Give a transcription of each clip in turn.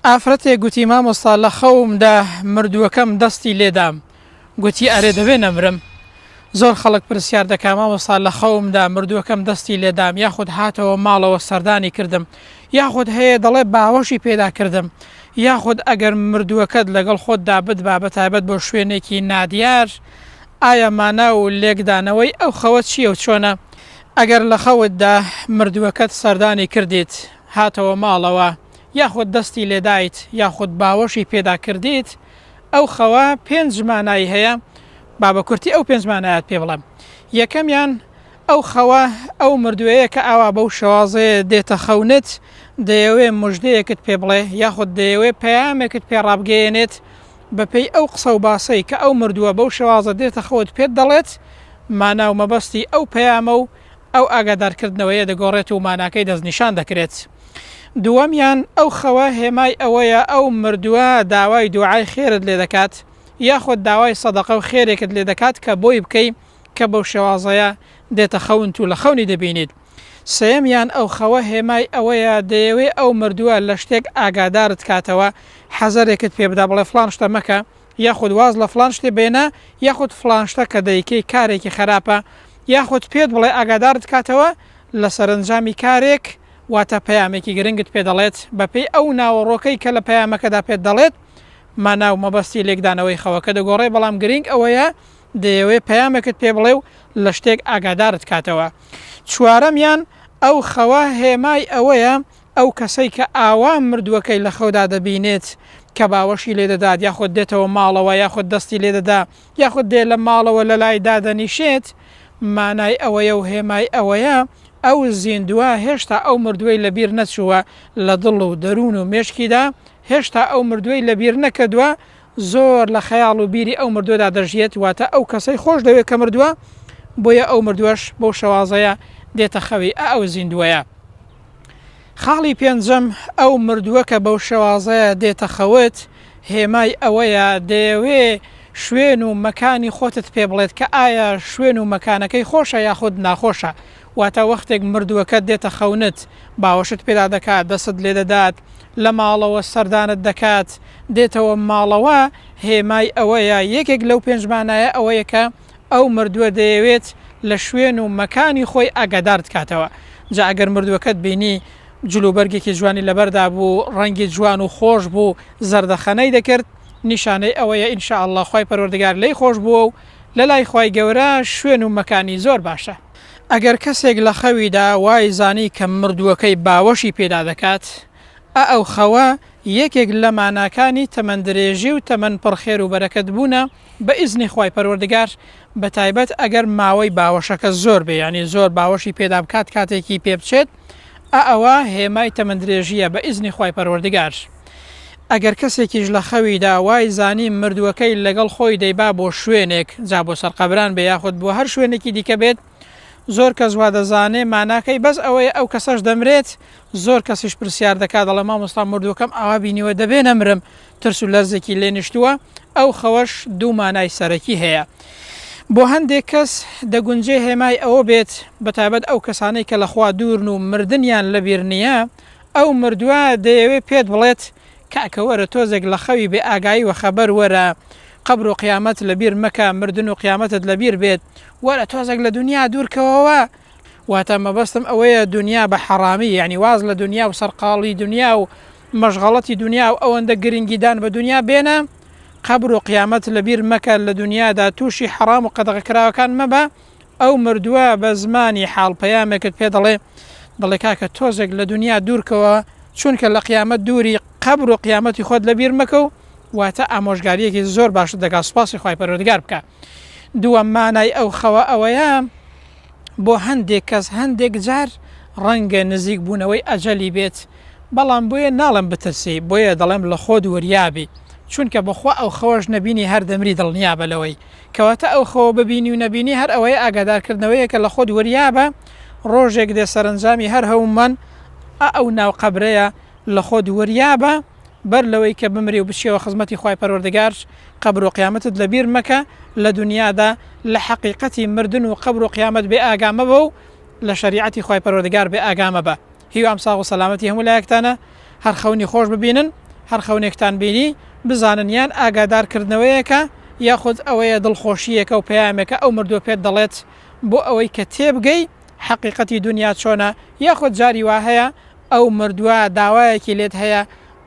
ئافرەتێک گوتی مامۆستا لە خەومدا مردووەکەم دەستی لێدام گوتی ئەرێ دەبێ نەمرم زۆر خەڵک پرسیار دەکا مامۆستا لە خەومدا مردووەکەم دەستی لێدام یاخود هاتەوە ماڵەوە سەردانی کردم یاخود هەیە دەڵێ باوەشی پێدا کردم یاخود ئەگەر مردووەکەت لەگەڵ خۆتدا بدبا بە تایبەت بۆ شوێنێکی نادیار ئایا مانا و لێکدانەوەی ئەو خەوە چییە و چۆنە ئەگەر لە خەوتدا مردووەکەت سەردانی کردیت هاتەوە ماڵەوە یاخود دەستی لێدایت یاخود باوەشی پێدا کردیت ئەو خەوە پێنج مانای هەیە با بە کورتی ئەو پێنج مانایەت پێ بڵێم یەکەمیان ئەو خەوە ئەو مردووەیە کە ئاوا بەو شێوازەیە دێتە خەونت دەیەوێ مژدەیەکت پێ بڵێ یاخود دەیەوێ پەیامێکت پێ ڕابگەیەنێت بەپێی ئەو قسە و باسەی کە ئەو مردووە بەو شێوازە دێتە خەوت پێت دەڵێت مانا و مەبەستی ئەو پەیامە و ئەو ئاگادارکردنەوەیە دەگۆڕێت و ماناکەی دەستنیشان دەکرێت دووەمیان ئەو خەوە هێمای ئەوەیە ئەو مردووە داوای دوعای خێرت لێ دەکات یاخود داوای سەدەقە و خێرێکت لێ دەکات کە بۆی بکەی کە بەو شێوازەیە دێتە خەونت و لە خەونی دەبینیت سێیەمیان ئەو خەوە هێمای ئەوەیە دەیەوێ ئەو مردووە لە شتێک ئاگادارت کاتەوە حەزەرێکت پێ بدا بڵێ فڵان شتە مەکە یاخود واز لە فڵان شتێ بێنە یاخود فڵان شتە کە دەیکەی کارێکی خەراپە یاخود پێت بڵێ ئاگادارت کاتەوە لە سەرەنجامی کارێک واتە پەیامێکی گرنگت پێ دەڵێت بەپێی ئەو ناوەڕۆکەی کە لە پەیامەکەدا پێت دەڵێت مانا و مەبەستی لێکدانەوەی خەوەکە دەگۆڕێ بەڵام گرنگ ئەوەیە دەیەوێ پەیامێکت پێ بڵێ و لە شتێک ئاگادارت کاتەوە چوارەمیان ئەو خەوە هێمای ئەوەیە ئەو کەسەی کە ئاوا مردووەکەی لە خەودا دەبینێت کە باوەشی لێ دەدات یاخود دێتەوە ماڵەوە یاخود دەستی لێ دەدا یاخود دێ لە ماڵەوە لە لای دادەنیشێت مانای ئەوەیە و هێمای ئەوەیە ئەو زیندووە هێشتا ئەو مردووەی لە بیر نەچووە لە دڵ و دەروون و مێشکیدا هێشتا ئەو مردووەی لە بیر نەکردووە زۆر لە خەیاڵ و بیری ئەو مردووەدا دەژیێت واتە ئەو کەسەی خۆش دەوێت کە مردووە بۆیە ئەو مردووەش بەو شەوازەیە دێتە خەوی ئا ئەو زیندووەیە. خاڵی پێنجەم ئەو مردووە کە بەو شێوازەیە دێتە خەوت هێمای ئەوەیە دەیەوێ شوێن و مەکانی خۆتت پێ بڵێت کە ئایا شوێن و مەکانەکەی خۆشە یاخود ناخۆشە واتە وەختێک مردووەکە دێتە خەونت باوەشت پێدا دەکات دەست لێ دەدات لە ماڵەوە سەردانت دەکات دێتەوە ماڵەوە هێمای ئەوەیە یەکێک لەو پێنجمانایە ئەوەیە کە ئەو مردووە دەیەوێت لە شوێن و مەکانی خۆی ئاگادار دکاتەوە جا ئەگەر مردووەکەت بینی جل و بەرگێکی جوانی لەبەردا بوو ڕەنگی جوان و خۆش بوو زەردەخەنەی دەکرد نیشانەی ئەوەیە ان شاء اللە خوای پەروەردگار لێی خۆش بووە و لەلای خوای گەورە شوێن و مەکانی زۆر باشە. ئەگەر کەسێک لە خەویدا وای زانی کە مردووەکەی باوەشی پێدا دەکات ئا ئەو خەوە یەکێک لە ماناکانی تەمەن درێژی و تەمەن پڕ خێر و بەرەکەت بوونە، بە ئیزنی خوای پەروەردگار بە تایبەت ئەگەر ماوەی باوەشەکە زۆر بێ یانی زۆر باوەشی پێدا بکات کاتێکی پێ بچێت ئا ئەوە هێمای تەمەندرێژیە بە ئیزنی خوای پەروەردگار ئەگەر کەسێکیش لە خەویدا وای زانی مردووەکەی لەگەڵ خۆی دەیبا بۆ شوێنێک جا بۆ سەر قەبران بێ یاخود بۆ هەر شوێنێکی دیکە بێت زۆر کەس وا دەزانێ ماناکەی بەس ئەوەیە ئەو کەسەش دەمرێت زۆر کەسیش پرسیار دەکات دەڵێ مامۆستا مردووەکەم ئاوا بینیوە دەبێ نەمرم ترس و لەرزێکی لێ نیشتووە، ئەو خەوەش دوو مانای سەرەکی هەیە. بۆ هەندێک کەس دەگونجێ هێمای ئەوە بێت، بەتایبەت ئەو کەسانەی کە لە خوا دوورن و مردنیان لە بیر نییە، ئەو مردووە دەیەوێ پێت بڵێت، کاکە وەرە تۆزێک لە خەوی بێ ئاگایی وەخەبەر وەرە، قەبر و قیامەت لە بیر مەکە، مردن و قیامەتت لە بیر بێت، وەرە تۆزێک لە دونیا دوور کەوەوە، واتە مەبەستم ئەوەیە دونیا بە حەڕامی، یانی واز لە دونیا و سەرقاڵی دونیا و مەشغەڵەتی دونیا و ئەوەندە گرنگیدان بە دونیا بێنە، قەبر و قیامەت لەبیر مەکە، لە دونیادا تووشی حەڕام و قەدەغەکراوەکان مەبە، ئەو مردووە بە زمانی حاڵ پەیامێکت پێ دەڵێ، دەڵێ کاکە تۆزێک لە دونیا دوورکەوە چونکە لە قیامەت دووری، قەبر و قیامەتی خۆت لەبیر مەکە و واتە ئامۆژگارییەکی زۆر باشت دەکا سوپاسی خوای پەروەردگار بکە. دووەم مانای ئەو خەوە ئەوەیە بۆ هەندێک کەس هەندێک جار ڕەنگە نزیک بوونەوەی ئەجەلی بێت بەڵام بۆیە ناڵم بترسی بۆیە دەڵێم لە خۆت وریابی چونکە بەخوا ئەو خەوەش نەبینی هەر دەمری دڵنیابە لەوەی کەواتە ئەو خەوە ببینی و نەبینی هەر ئەوەیە ئاگادارکردنەوەیە کە لە خۆت وریابە ڕۆژێک دێ سەرنجامی هەر هەومان ئەو ناو قەبرەیە لە خۆت وریابە بەر لەوەی کە بمری و بچیەوە خزمەتی خوای پەروەردگار قەبر و قیامەتت لە بیر مەکە لە دونیادا لە حەقیقەتی مردن و قەبر و قیامەت بێ ئاگا مەبە و لە شەریعەتی خوای پەروەردگار بێ ئاگا مەبە هیوام ساغ و سەلامەتی هەموو لایەکتانە هەر خەونی خۆش ببینن هەر خەونێکتان بینی بزانن یان ئاگادار کردنەوەیەکە یاخود ئەوەیە دڵخۆشییەکە و پەیامێکە ئەو مردووە پێت دەڵێت بۆ ئەوەی کە تێبگەی حەقیقەتی دونیا چۆنە یاخود جاری وا هەیە ئەو مردوە داوایەکی لێت هەیە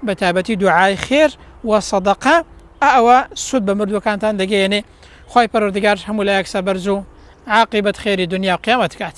بە تایبەتی دوعای خێر وە سەدەقە ئە ئەوە سود بە مردوەکانتان دەگەیەنێ خوای پەروەردگار هەموو لایەک سەبەرزو عاقیبەت خێری دونیاو قیامەت کات.